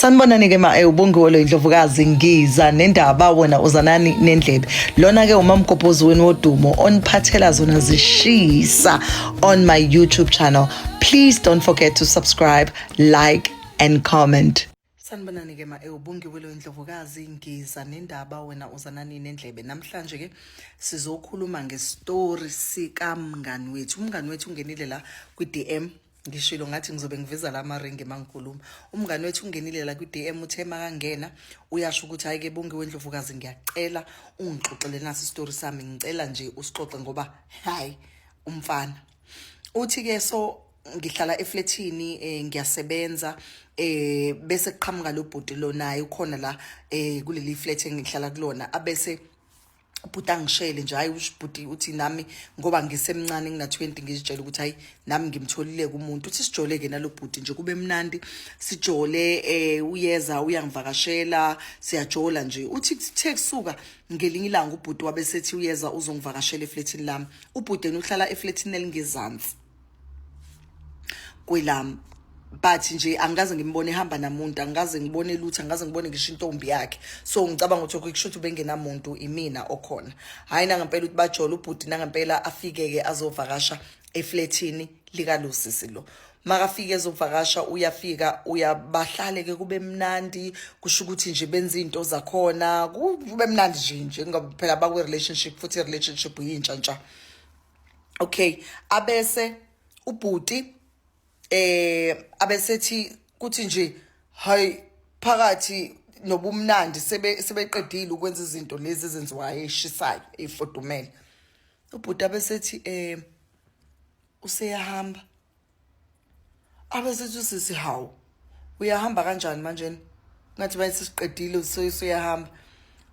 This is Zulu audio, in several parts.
sanibonani ke ma eh, ubongiwe lo indlovukazi ngiza nendaba wena uzanani nendlebe lona ke umamgobhozi wenu wodumo oniphathela zona zishisa on my youtube channel please don't forget to subscribe like and comment sanibonani ke ma eh, ubongiwe lo indlovukazi ngiza nendaba wena uzanani nendlebe namhlanje ke sizokhuluma ngestory sikamngani wethu umngani wethu ungenile la kwi-dm ngishilo ngathi ngizobe ngiveza la maringi mangikhuluma umngane wethu ungenile la kwi-dm uthe makangena uyasho ukuthi hayi ke bonke wendlovukazi ngiyacela ungixoxele nasi isitori sami ngicela nje usixoxe ngoba hayi umfana uthi ke so ngihlala eflethini eh, ngiyasebenza eh bese kuqhamuka lo bhuti lo naye ukhona la eh kuleli flat engihlala kulona abese ubhuti angishele nje hayi ubhuti uthi nami ngoba ngisemncane ngina-20 ngizitshela ukuthi hayi nami ngimtholile kumuntu uthi sijole-ke nalo bhuti nje kube mnandi sijole um uyeza uyangivakashela siyajola nje uthi kuthe kusuka ngelinye ilanga ubhuti wabe sethi uyeza uzongivakashela efletini lami ubhudeni uhlala efletini elingezansi kwelami but nje angikaze ngimbone ehamba namuntu angikaze ngibone lutho angikaze ngibone ngisho intombi yakhe so ngicabanga ukuthi kusho ukuthi ubengenamuntu imina okhona hhayi nangempela ukuthi bajole ubhuti nangempela afike-ke azovakasha eflethini likalosisi lo makafike ezovakasha uyafika uyabahlale ke kube mnandi kusho ukuthi nje benza izinto zakhona kube mnandi nje nje ngoba phela bakwi relationship futhi relationship yintsha ntsha okay abese ubhuti eh abesethi kuthi nje hayi phakathi nobumnandi sebe sebeqedile ukwenza izinto lezi ezenziwayo eshisayo efodumele ubhuti abesethi eh useyahamba abesethi usisi hawu uyahamba kanjani manjena ngathi bayithi siqedile usuyahamba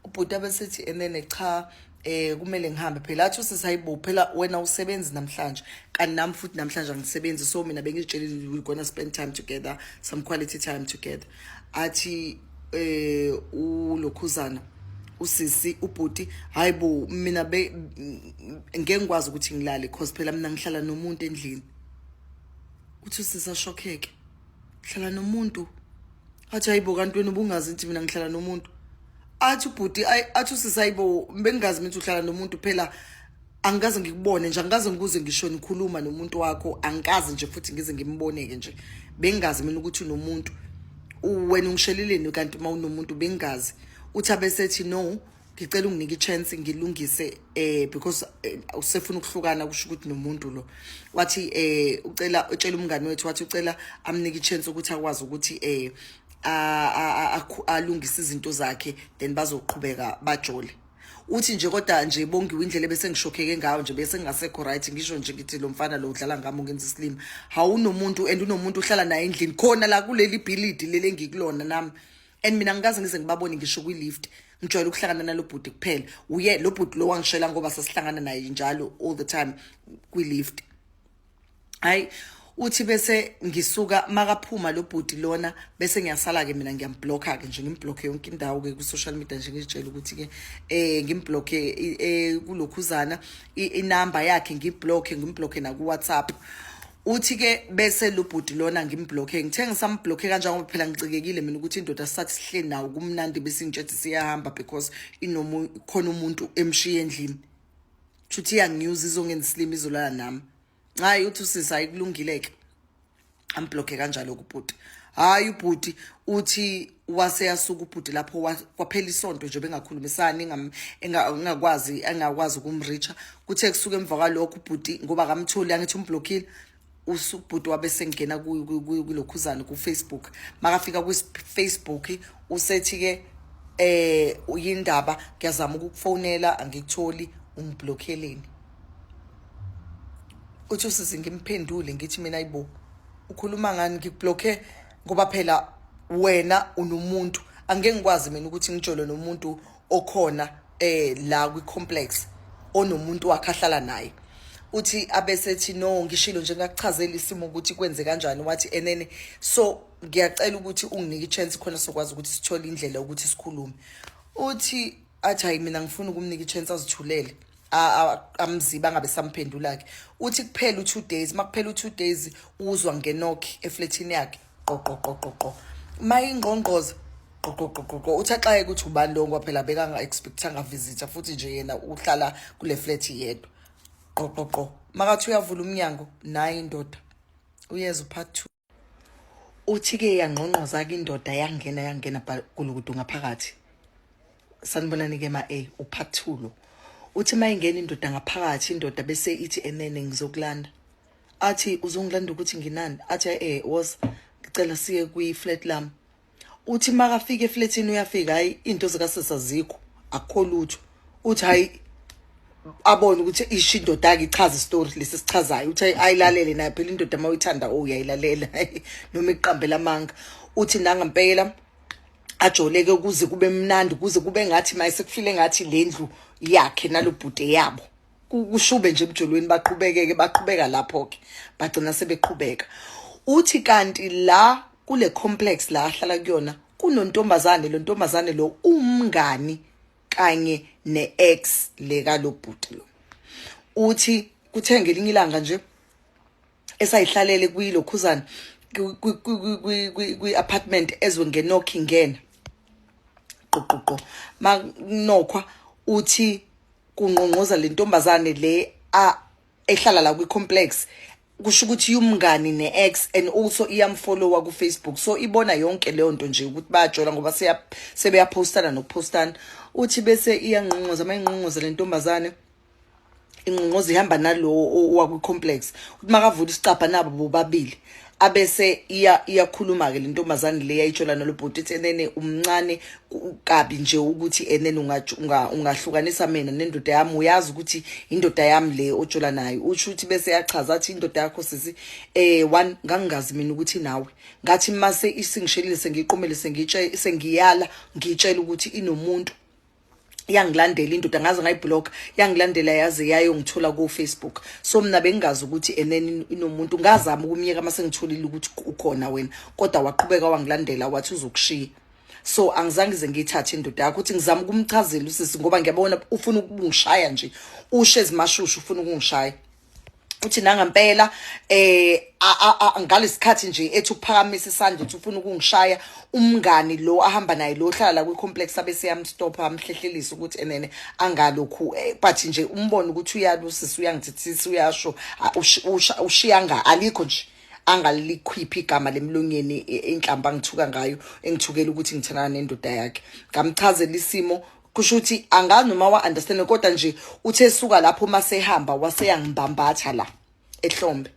ubhuti abesethi enene cha eh kumele ngihambe phela athi usisi hayibo phela wena usebenzi namhlanje kanti nami futhi namhlanje angisebenzi so mina bengizitshelile we're gonna spend time together some quality time together athi eh ulokhuzana usisi ubhuti hayibo mina be ngeke ngikwazi ukuthi ngilale cause phela mina ngihlala nomuntu endlini uthi usisi ashokheke hlala nomuntu athi hayibo kanti wena ubungazi ukuthi mina ngihlala nomuntu athi ubhuti athi usisi hayibo bengingazi ukuthi uhlala nomuntu phela angikaze ngikubone nje angikaze ngikuze ngisho nikhuluma nomuntu wakho angikaze nje futhi ngize ngimboneke nje bengazi mina ukuthi unomuntu wena ungisheleleni kanti uma unomuntu bengazi uthi abesethi no ngicela unginike i-chance ngilungise eh because eh, usefuna ukuhlukana kusho ukuthi nomuntu lo wathi eh ucela utshela umngane wethu wathi ucela amnike i-chance ukuthi akwazi ukuthi eh alungise izinto zakhe then bazoqhubeka bajole uthi nje kodwa nje bongiwe indlela bese ngishokheke ngayo nje bese ngingasekho right ngisho nje ngithi lo mfana lo udlala ngami ungenza isilima hawunomuntu and unomuntu uhlala naye endlini khona la kuleli bhilidi leli engikulona nami and mina ngikaze ngize ngibabone ngisho kwi-lift ngijwayele ukuhlangana nalo bhuti kuphela uye lo bhuti lo wangishela ngoba sasihlangana naye njalo all the time kwi-lift hayi uthi bese ngisuka makaphuma lo bhuti lona bese ngiyasala ke mina ngiyamblocker ke nje ngimblocker yonke indawo ke ku social media nje ngitshela ukuthi ke eh ngimblocker eh, eh kulokhuzana inamba yakhe ngiblocker ngimblocker na ku WhatsApp uthi ke bese lo bhuti lona ngimblocker ngithe ngisamblocker kanjani ngoba phela ngicikekile mina ukuthi indoda sakusihle nawo kumnandi bese ngitshethi siyahamba because inomu khona umuntu emshiye endlini Chuthi iyanginyuza izongenza isilima izolala nami. Hayi uthi usisi ayikulungileke. Amblock kanjalo kubhuti. Hayi ubhuti uthi wase yasuka ubhuti lapho kwaphela isonto nje bengakhulumisani engakwazi engakwazi ukumricha kuthe kusuka emva kwalokho ubhuti ngoba kamtholi angithi umblockile usubhuti wabe sengena kulokhuzane kufacebook makafika kufacebook usethi-ke eh uyindaba ngiyazama ukukufonela angikutholi ungiblokheleni uthi usize ngimphendule ngithi mina ayibo ukhuluma ngani ngikublokhe ngoba phela wena unomuntu angeke ngikwazi mina ukuthi ngijole nomuntu okhona eh la kwi complex onomuntu wakhe ahlala naye uthi abesethi no ngishilo nje ngakuchazela isimo ukuthi kwenze kanjani wathi enene so ngiyacela ukuthi unginike ichance khona sokwazi ukuthi sithole indlela ukuthi sikhulume uthi athi hayi mina ngifuna ukumnika ichance azithulele amziba angabe samphendula ke uthi kuphela u2 days makuphela u2 days uzwa ngenokhi efletini yakhe qoqoqoqoqo mayingqongqoza qoqoqoqoqo uthi axaye ukuthi ubani lo ngoba phela bekanga-expectanga visitha futhi nje yena uhlala kule flat yedwa qoqoqo makathi uyavula umnyango naye indoda uyeza upart two uthi-ke yangqongqoza-ke indoda yangena yangena gulukudu ngaphakathi sanibonani-ke ma-a upart two lo uthi uma ingena indoda ngaphakathi indoda bese ithi enene ngizokulanda athi uzongilanda ukuthi nginani athi eh was ngicela siye kwi flat lam uthi makafika eflatini uyafika hayi into zikasisa zikho akho lutho uthi hayi abone ukuthi isho indoda yake ichaza istory lesi sichazayo uthi ayilalele naye phela indoda uma uyithanda o oh, uyayilalela noma iqambela amanga uthi nanga mpela ajoleke ukuze kube mnandi ukuze kube ngathi maye sekufile ngathi lendlu yakhe nalobhuti yabo kushube nje emjolweni baqhubekeke baqhubeka lapho ke bagcina sebeqhubeka uthi kanti la kule complex la ahlala kuyona kunontombazane lo ntombazane lo umngani kanye ne-ex leka lo bhuti lo uthi kuthe ngelinye ilanga nje esayihlalele kwilokhuzana kwi-apartment ezwe ngenokhi ngena qoqoqo makunokhwa uthi kungqongqoza le ntombazane le a ehlala la kwi-complex kusho ukuthi umngani ne-ex and also iyamfollowa kufacebook so ibona yonke leyo nto nje ukuthi bayajola ngoba sebeyaphostana nokuphostana uthi bese iyangqongqoza uma ingqongqoza le ntombazane ingqongqoza ihamba nalowo owakwi-complex ukuthi makavula isicabha nabo bobabili abese iya iyakhuluma ke lentombazane le yayitshola nalobhuti ithi enene umncane kabi nje ukuthi enene ungahlukanisa mina nendoda yami uyazi ukuthi indoda yami le otshola nayo usho ukuthi bese yachaza athi indoda yakho sisi eh one ngangingazi mina ukuthi nawe ngathi mase isingishelile sengiqomele sengitshe sengiyala ngitshela ukuthi inomuntu yangilandela indoda ngaze ngayiblock yangilandela yaze yayongithola ku Facebook so mina bengazi ukuthi eneni inomuntu ngazama ukumyeka mase ngitholile ukuthi ukhona wena kodwa waqhubeka wangilandela wathi uzokushiya so angizange ze ngiyithathe indoda yakho ukuthi ngizama ukumchazela usisi ngoba ngiyabona ufuna ukungishaya nje ushe ezimashushu ufuna ukungishaya uthi nangampela eh ngalesikhathi nje ethi uphakamisa isandla uthi ufuna ukungishaya umngani lo ahamba naye lo hlala la kwi complex abe siyamstop amhlehlelisa ukuthi enene angalokhu eh, but nje umbona ukuthi uyalusisa uyangithithisa uyasho ushiya nga alikho nje angalikhiphi igama lemlonyeni inhlamba ngithuka ngayo engithukela ukuthi ngithandana nendoda yakhe ngamchazela isimo kusho ukuthi angazi noma wa understand kodwa nje uthe suka lapho uma sehamba waseyangibambatha la ehlombe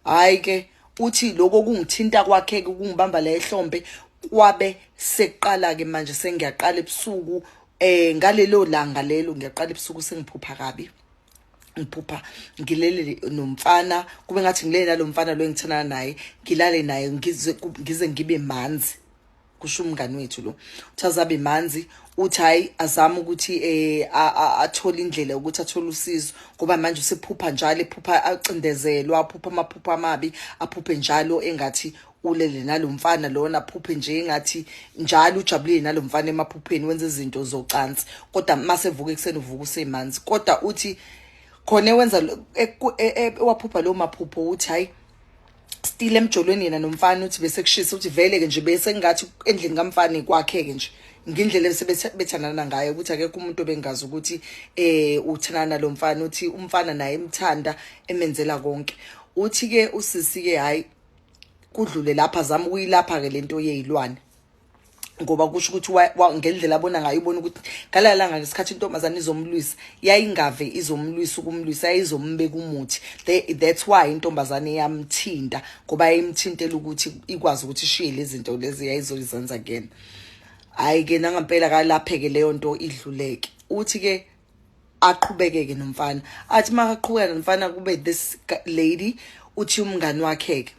hayi ke uthi lokho kungithinta kwakhe kungibamba la ehlombe kwabe seqala ke manje sengiyaqala ebusuku eh ngalelo langa lelo ngiyaqala ebusuku sengiphupha kabi ngiphupha ngilele nomfana kube ngathi ngilele nalomfana lo engithana naye ngilale naye ngize ngibe manzi kusho umngani wethu lo uthi azabe manzi uthi hayi azama ukuthi eh athole indlela ukuthi athole usizo ngoba manje usephupha njalo ephupha acindezelwa aphupha amaphupha amabi aphuphe njalo engathi ulele nalomfana lona phuphe nje engathi njalo ujabulile nalomfana emaphupheni wenza izinto zocansi kodwa mase vuka ekseni uvuka usemanzi kodwa uthi khona wenza e, e, e, waphupha lo maphupho uthi hayi still emjolweni yena nomfana uthi bese kushisa uthi vele ke nje bese ngathi endlini kamfana kwakhe ke nje ngindlela ebethandana ngayo ukuthi akekho umuntu obengazi ukuthi eh uthandana lo mfana uthi umfana naye emthanda emenzela konke uthi ke usisi ke hayi kudlule lapha zama ukuyilapha ke lento yezilwane ngoba kusho ukuthi ngendlela abona ngayo ubona ukuthi ngalaya langa ngesikhathi intombazane izomlwisa yayingave izomlwisa ukumlwisa yayizombeka umuthi that's why intombazane yamthinta ngoba yayimthintela ukuthi ikwazi ukuthi ishiye lezi zinto lezi yayizozenza kuyena hhayi-ke nangampela kalapheke leyo nto idluleke uthi-ke aqhubekeke nomfana athi makaqhubeka nomfana kube this lady uthi umngani wakhe-ke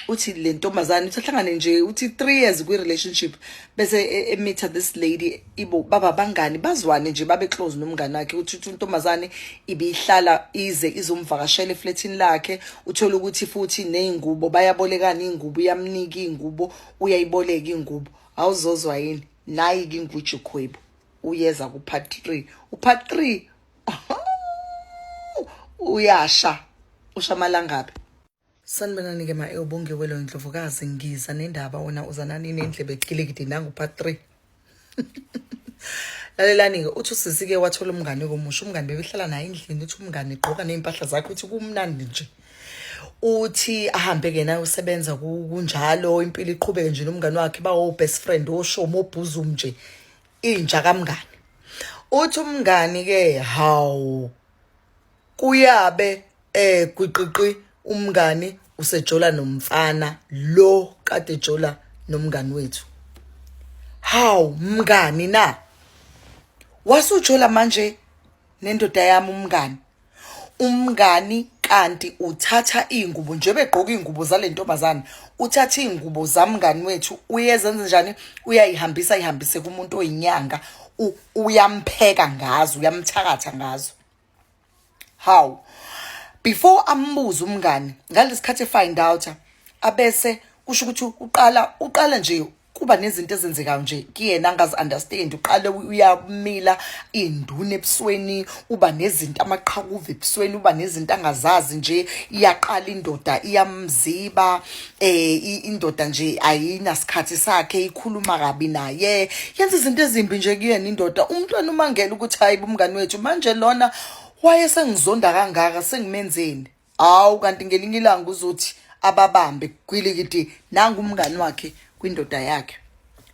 uthi le ntombazane uthi ahlangane nje uthi three years kwi-relationship bese e, emitha this lady ibo baba bangani bazwane nje babe close nomngane wakhe uthi uthi intombazane ibiyihlala ize izomvakashela efletini lakhe uthole ukuthi futhi ney'ngubo bayabolekana iy'ngubo uyamnika iy'ngubo uyayiboleka iy'ngubo awuzozwa yini nayi-ke inguju khwebu uyeza kupart three upart three uyasha usha amalangabi Sanibonani ke ma ewubongiwelo eh, indlovukazi ngiza nendaba wena uzanani nendlebe ecilikidi nangu part 3 lalelani ke uthi usisi ke wathola umngane komusha umngane bebehlala naye endlini uthi umngane igqoka nezimpahla zakhe uthi kumnandi nje uthi ahambe ke naye usebenza kunjalo impilo iqhubeke nje nomngane wakhe bawo best friend oshomo obhuzum nje inja kamngane uthi umngani ke hawu kuyabe eh gwiqiqi umngani usejola nomfana lo kade jola nomngani wethu haw mngani na wasujola manje nendoda yami umngani umngani kanti uthatha izingubo njengoba egqoka izingubo zale ntombazane uthatha izingubo zamngani wethu uyezenza njani uyayihambisa ihambise kumuntu oyinyanga uyampheka ngazo uyamthakatha ngazo how before ambuze umngani ngalesikhathi find out abese kusho ukuthi uqala uqala nje kuba nezinto ezenzekayo nje kuyena angazi understand uqale uyamila induna ebusweni uba nezinto amaqhakuva ebusweni uba nezinto angazazi nje iyaqala indoda iyamziba eh indoda nje ayinasikhathi sakhe ikhuluma kabi naye yenza izinto ezimbi nje kuyena indoda umntwana umangela ukuthi hayi bumngani wethu manje lona waye sengizonda kangaka sengimenzeni hawu kanti ngelinye ilanga uzothi ababambe kwilikiti nangu umngani wakhe kwindoda yakhe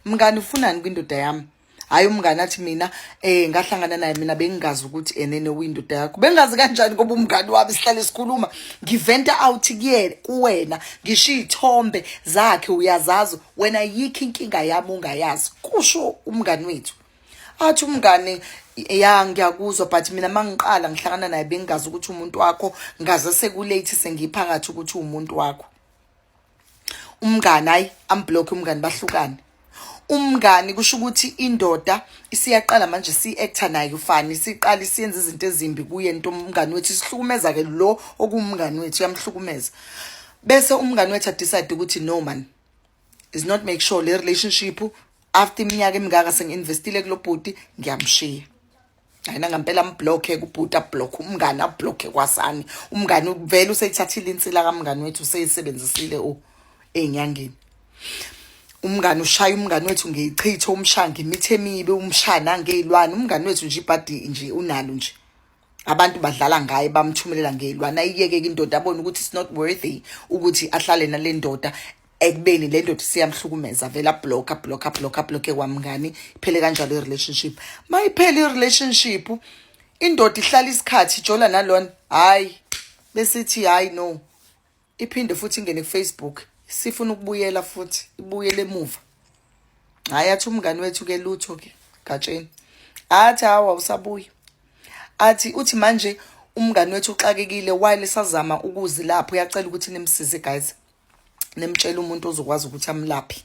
mngani ufunani kwindoda yami hayi umngane athi mina eh ngahlangana naye mina bengingazi ukuthi enene windoda yakho bengazi kanjani ngoba umngane wami sihlale sikhuluma ngiventa out kuyena kuwena ngisho izithombe zakhe uyazazi wena yikho inkinga yami ungayazi kusho umngane wethu athi umngane ya ngiyakuzwa but mina mangiqala ngihlangana naye bengingazi ukuthi umuntu wakho ngaze sekulate sengiphakathi ukuthi umuntu wakho umngani hayi amblock umngani bahlukane umngani kusho ukuthi indoda isiyaqala manje si-acta naye ufani siqala isiyenza izinto ezimbi kuye nto umngani wethu isihlukumeza-ke lo okuwumngani wethu uyamhlukumeza bese umngani wethu adecide ukuthi no man is not make sure le relationship after iminyaka emingaka sengi-investile kulo bhuti ngiyamshiya ayina ngampela amblokhe kubhuti ablokhe umngane ablokhe kwasani umngane uvele useyithathile insila kamngane wethu useyisebenzisile u ey'nyangeni umngane ushaya umngane wethu ngeyichithe umshaya ngemithi emibi umshaya nangey'lwane umngane wethu nje ibhadi nje unalo nje abantu badlala ngaye bamthumelela ngey'lwane ayiyeke-ke indoda abone ukuthi it's not worthy ukuthi ahlale nale ndoda ekubeni le ndoda siyamhlukumeza vele abhlokha abhlokha abhlokha abhlokhe kwamngani iphele kanjalo i-relationship ma iphele i-relationship indoda ihlala isikhathi ijola nalona hhayi besithi hhayi no iphinde futhi ingene kufacebook sifuna ukubuyela futhi ibuyele emuva hhayi athi umngani wethu ke lutho ke gatsheni athi hawa usabuya athi uthi manje umngani wethu uxakekile while sazama ukuzi lapho uyacela ukuthi nimsize guys nemtshela umuntu ozokwazi ukuthi amlaphe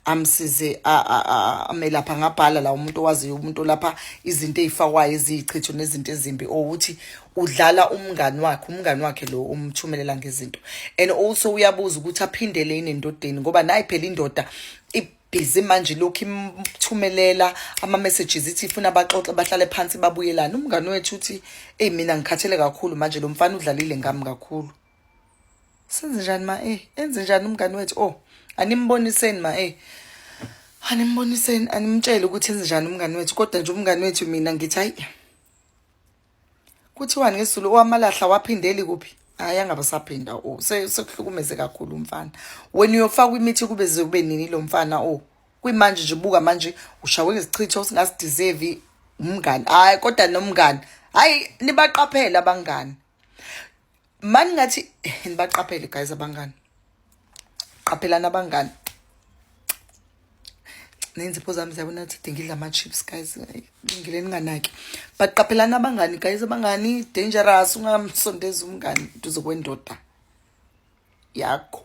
amsize amelapha ngabhala la umuntu owaziyo umuntu lapha izinto ezifakwayo eziyichitho nezinto ezimbi ukuthi udlala umngani wakhe umngani wakhe lo umthumelela ngezinto and also uyabuza ukuthi aphindele inendodeni ngoba nayi phela indoda busy manje lokhu imthumelela ama-messages ithi ifuna abaxoxe bahlale phansi babuyelane umngani wethu uthi eyi mina ngikhathele kakhulu manje lo mfana udlalile ngami kakhulu senze njani ma e enze njani umngani wethu o oh, animboniseni ma e animboniseni animtshele ukuthi enze njani umngani wethu kodwa nje umngani wethu mina ngithi hayi kuthiwani ngesizulu owamalahla waphindeli kuphi hayi angabe saphinda o oh, sekuhlukumeze kakhulu umfana wena uyofakwa imithi kube ze kube nini lo mfana o oh, kwimanje nje buka manje ushawe ngesichitho singasideserve umngani hayi kodwa nomngani hayi nibaqaphela abangani mani ngathi nibaqaphele guys abangani qaphelani abangani nenzipho zami ziyabona ukuthi dingidla ama-chips guys ngile ninganaki but qaphelani abangani guys abangani dangerous ungamsondeza umngani duze kwendoda yakho